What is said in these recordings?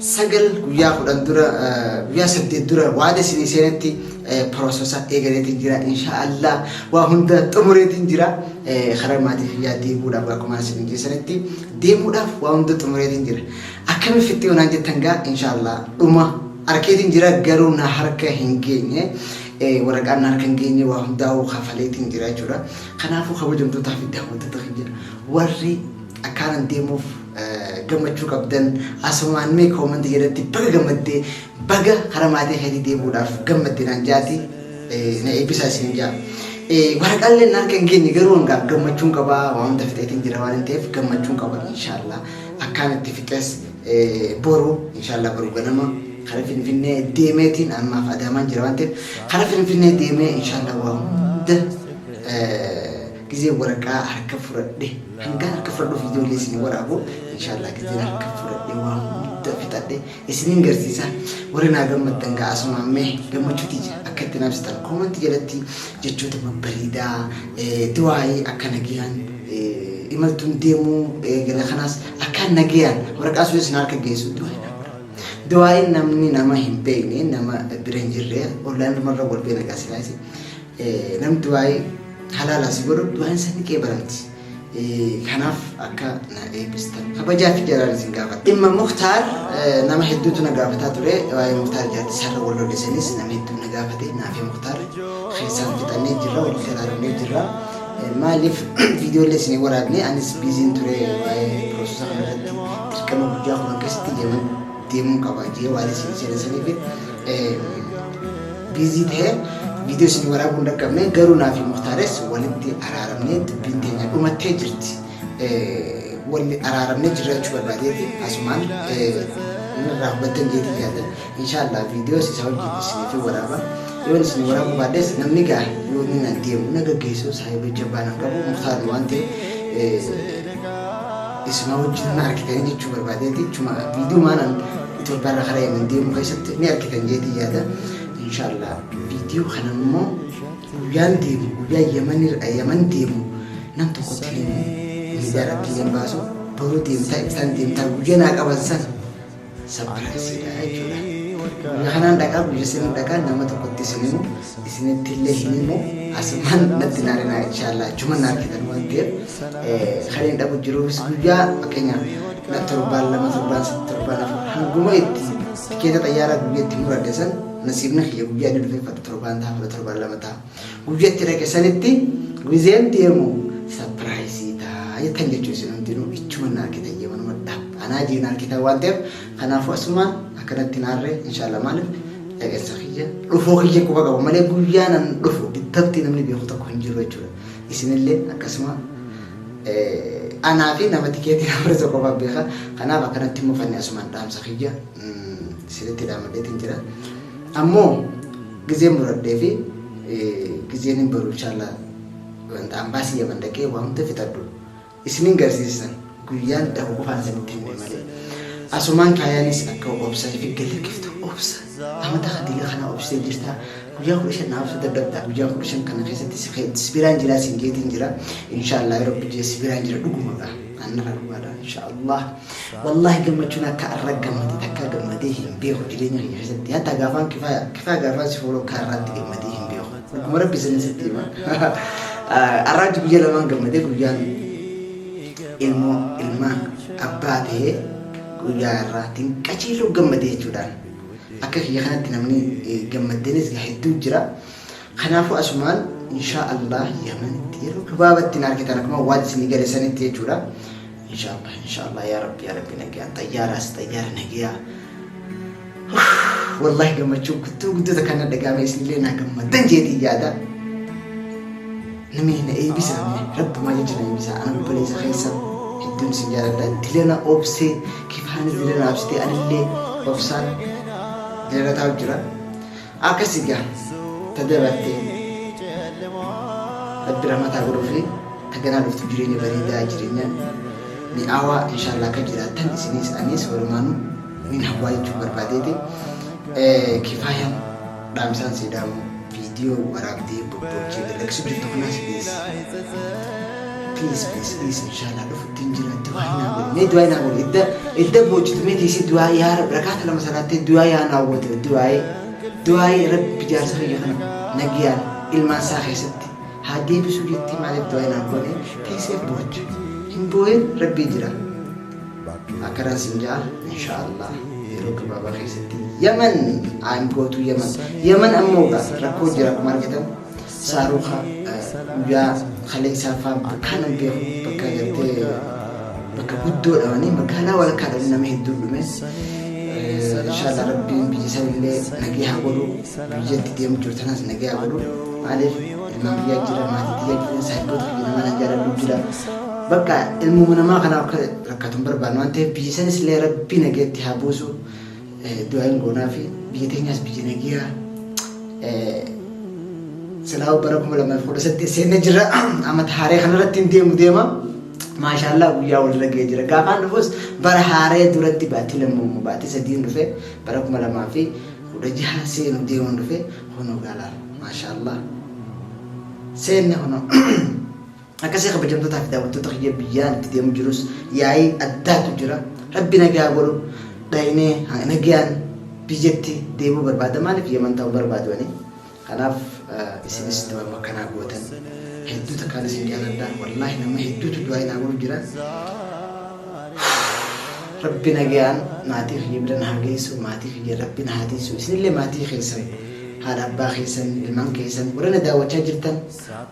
sagal guyyaa kudhan dura guyyaa saddeet dura waan isinii seenetti piroososa eegaleetiin jira inshaallah waa hunda xumureetiin jira karaa maatii kiyyaa deemuudhaaf akkuma isin jeesanitti deemuudhaaf waa hunda xumureetiin jira akkami fitti onaan jettan gaa inshaallah dhuma arkeetiin jira garuu na harka hin geenye waraqaan na harka hin geenye waa hundaa'uu kafaleetiin jira jechuudha kanaafuu kabajamtootaa fi daawwattoota keenya warri akkaanan deemuuf gammachuu qabdan asumaan mee koomantii jalatti baga gammaddee baga karaa maatii keetii deebi'uudhaaf gammadde naan jaati na eebbisaa isin jaa. Waraqaaleen harka hin geenye garuu hangaaf gammachuun qabaa waan hunda fixeetiin jira waan ta'eef gammachuun qaba inshaallah akkaan itti fixes boru inshaallah boru ganama kara finfinnee deemeetiin ammaaf adaamaan jira waan ta'eef kara finfinnee deemee inshaallah waa hunda Gizee waraqaa harka fudhadhe hangan harka fudhadhu viidiyoo illee isin waraabu inshaallah gizeen harka fudhadhe waa hunda fixadhe isinin garsiisa warri naa gammaddan gaa asumaan mee gammachuuti jira akka itti naabsitan koomanti jalatti jechoota babbareedaa du'aayii akka nagayaan imaltuun deemuu gara kanaas akka nagayaan waraqaa sun isin harka geessu du'aayii du'aayiin namni nama hin beekne nama bira hin jirre ollaan namarra wal beena gaasilaayisi Namni du'aa'ii halaalaa si godhu du'aan isa ni qeebalamti. Kanaaf akka na eebbistan kabajaa fi jaalaan isin gaafadha. Dhimma Muktaar nama hedduutu na gaafataa ture. Waa'ee Muktaar jaatti sarara wal lollisanis nama hedduu na gaafate. Naafee Muktaar keessaan fixannee jirra wal garaaramnee jirra. Maaliif viidiyoolee isin hin waraabne anis biiziin ture waa'ee piroososa kanarratti dirqama guddaa kunan keessatti deeman deemuun qaba jee waan isin seenessaniif Biizii tahee viidiyoo isinii waraabuu hin dhaqqabne garuu naa fi Muktaares walitti araaramnee dubbiin teenya dhumattee jirti. Walli araaramnee jiraachuu barbaadeeti asumaan irraa hubattan jeetii yaada. Inshaallah viidiyoos isaa wajjin isinii fi waraaba. Yoon isin waraabuu baadhes namni gaa yoo inni na deemu na gaggeessu saayiba jabbaa nan qabu Muktaar waan ta'e isuma wajjin na argitanii jechuu barbaadeeti. Chuma viidiyoo maanan Itoophiyaa irraa karaa Yemen deemuu keessatti ni argitan jeetii yaada inshaallah. Viidiyoo kana immoo guyyaan deemu guyyaa Yemen irra Yemen deemu nam tokko tilimu miidiyaa irratti illee hin baasu boruu deemtaa ibsaan deemtaa guyyaa naa qaban san sapiraayisiidha jechuudha. Guyyaa kanaan dhaqaa guyyaa saniin dhaqaa nama tokkotti isinimu isinittillee hin himu asumaan natti hin aarinaa inshaallah achuman na argitan waan ta'eef kan hin dhabu jiruufis guyyaa fakkeenyaaf na torbaan lama torbaan sadii torbaan afur hanguma itti tikeeta xayyaaraa guyyaa itti muradhe san nasiibni kiyya guyyaa inni dhufee fadha torbaan ta'a fudha torbaan lama ta'a guyyaa itti dhaqe sanitti gizeen deemu sapiraayisii ta'a jettan jechuu isin hundinuu ichuman na argitan yemanuma dhaab anaa jeen argitan waan ta'eef Kanaafuu asumaan akkanatti hin aarre inshallah maalif egersa kiyya dhufuu kiyya quba qaba malee guyyaan an dhufu ittafti namni beeku tokko hin jiru jechuudha. Isinillee akkasuma anaa fi nama tikeetii na barreessa qofaan beeka. Kanaaf akkanatti mufanne asumaan dhaamsa kiyya isinitti dhaamadheetiin jira. Ammoo gizeen muradhee fi gizeen hin baru inshallah wanta ambaasii yaman dhaqee waa hunda fixadhu. isinin garsiissan guyyaan dhahu qofaan isinitti himne malee asumaan kaayaanis akka obsa ifi galakkiftu obsa amata hadiga kana obsee jirta guyyaa kudha shan naaf dadhabda guyyaa kudha shan kana keessatti si kee- si biraan jira sin geetiin jira inshaallah yeroo biyya si biraan jira dhugumadha annara dhugaadha inshaallah wallahi gammachuun akka arra gammade takka gammadee hin beeku jireenya kiyya keessatti hatta gaafaan kifaaya kifaaya gaafaan si fuuloo kaarraatti gammadee hin beeku Amma rabbi isin sitti hima. Arraatti guyyaa lamaan gammadee guyyaan ilmoo ilmaan abbaa ta'ee guyyaa irraatiin qajeeluu gammadee jechuudhaan akka kiyya kanatti namni eh, gammadeenis hedduu jira. Kanaafuu asumaan inshaa Allah yamanitti yeroo gabaabatti hin argitan akkuma waan isinii gale sanitti jechuudha. Inshallah inshallah yaa rabbi yaa rabbi nagayaan xayyaaraas xayyaara nagayaa. Wallahi gammachuu guddoo guddoo takka na dhagaame isinillee naa gammaddan jeetii yaada. Namni na eebbisa namni rabbumaa jecha na eebbisa ana obboleessa keessa hedduun isin jaaladha dilana obsee kifaanis dilana obsitee anillee obsaan dilana taa'u jira. Akkasi gaa ta dabartee rabbi rahmataa godhuufi ta ganaa dhuftu jireenya bareedaa jireenya mi'aawaa inshaallah akka jiraattan isinis anis walumaanu nin hawwaa jechuu barbaadeeti kifaayaan dhaamsaan seedaamu viidiyoo waraabdee bobbochee dalagsu jirtu kanaas please please please please inshaallah dhufu ittiin jiraatte waa hin haawwatu. Mee du'aa hin haawwatu. Edda edda boochitu mee tiisii du'aa yaa rabbi rakaata lama salaattee du'aa yaa hin haawwatu. Du'aa'ee du'aa'ee rabbi jaarsa kiyya kana nagiyaan ilmaan isaa keessatti haa deebisuu jettee maaliif du'aa hin haawwatu. Teessee boocha. Hin boo'in rabbii jira. Akkanaan sin ja'a insha Allah yeroo gabaabaa keessatti Yaman aangootu Yaman. Yaman ammoo rakkoo jira akkuma argitan. Saaruuka guyyaa kaleessaa faa bakkaan hin beeku bakka gartee bakka guddoo dhamanii magaalaa walakkaa dhamanii nama hedduun dhume. Inshaallah rabbiin biyya san illee nagee haa godhu biyyatti deemu jiru tanas nagee haa godhu maaliif ilmaan biyyaa jira maatii biyyaa jira saayibboota biyya namaa nagaa dhabuu jira. Bakka ilmuma namaa kana akka rakkatu hin barbaanne waan ta'eef biyya sanis illee rabbii nageetti haa buusu. Du'aa hin goonafi biyya teenyaas biyya nagiyaa silaa'u bara 2018 seenne jirra amata haaree kanarratti hin deemu deema maashaallaa guyyaa walirra ga'ee jira gaafaan dhufus bara haaree duratti baatii lammuummoo baatii sadiin dhufe bara 2016 seenu deemuun dhufe kunoo gaalaaf maashaallaa seenne kunoo Akkasii kabajamtotaa fi daawwattoota kiyya biyyaan itti deemu jirus yaa'ii addaatu jira. Rabbi nagaa godhu dhaynee nagayaan biyyatti deebuu barbaada maaliif yaman ta'uu barbaadu ani. Kanaaf isinis du'aama akkanaa gootan hedduu takkaan isin jaaladha. Wallaahi nama hedduutu du'aa inaa godhu jira. Rabbi nagayaan maatii kiyya bira na haa geessu maatii kiyya rabbi na haa tiisu isinillee maatii keessan haadha abbaa keessan ilmaan keessan warra na daawwachaa jirtan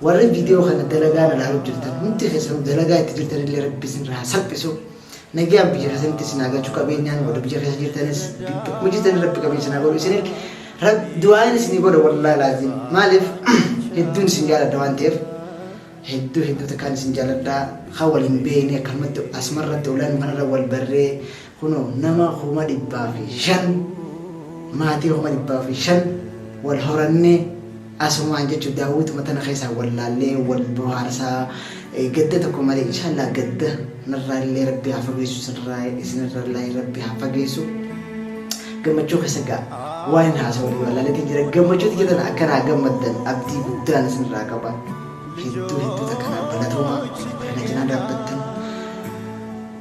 Warri video kana dalagaa irra laaluu jirtan hundi keessanuu dalagaa itti jirtan illee rabbi isin irraa salphisu. Nagaan biyya keessanitti isin haa galchu qabeenyaan warri biyya keessa jirtanis bakkuma jirtan rabbi qabeenya isin haa godhu isin du'aan isin godha wallaahi laaziim maaliif hedduun isin jaalladha waan ta'eef hedduu hedduu takkaan isin jaalladha kan waliin beekne akkanumatti asumarratti olaanuu kanarra wal barree Kunoo nama kuma dhibbaa fi shan maatii kuma dhibbaa fi shan wal horannee asumaan jechuun daawwituma tana keessaa wal laallee wal bohaarsaa gadda tokko malee inshaallah gadda narraa illee rabbi haa fageessu isinirraa isinirraa illee rabbi haa fageessu gammachuu keessa gaa waan hin haasa'u walii walaalatti jira gammachuutti jedhan akkanaa gammaddan abdii guddaan isinirraa qaba hedduu hedduu takkanaa balatooma kana cinaa dhaabbattan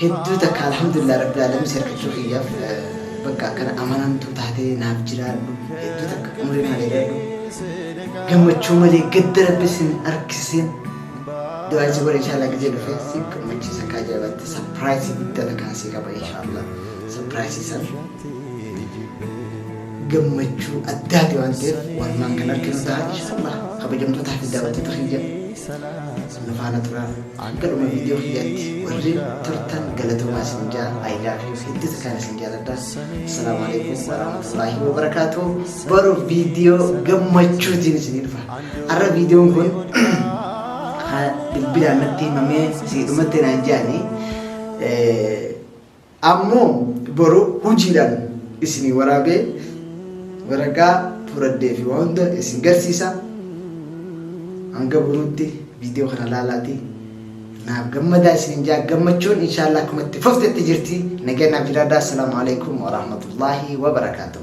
Hedduu takka alhamdulillah rabbil aalamiin si harkachuu kiyyaaf bakka akkana amanamtuu taatee naaf jiraadhu hedduu takka umrii naa dheeradhu gammachuu malee gadda rabbi sin harkisin du'aa si godhe inshaallah gizee dhufe si gammachiisa kaa jabaatte sapiraayisii guddaa takkaan si qaba inshaallah sapiraayisii san gammachuu addaati waan ta'eef walumaan kan arginu ta'a inshaallah kabajamtootaa fi daawwattoota kiyya nu faana turaa. Hanga dhuma video kiyyaatti warreen turtan galatoomaa isin jaa I love you hedduutu kan isin jaaladha. Assalaamu alaikum warahmatullaahi wabarakaatu. Boru video gammachuutiin isin dhufa. Har'a videon kun bilbilaan natti himamee siidhumatti naan jaanii Ammo boru hujiidhaan isinii waraabee, waraqaa furadhee fi waa hunda isin garsiisa. Hanga boruutti viidiyoo kana laalaati naaf gammadaa isiniin jaa gammachuun inshaallah akkuma itti fuftetti jirti. Nagaa naaf jiraadhaa. Assalaamu alaikum wa rahmatullaahi wa barakaatuh.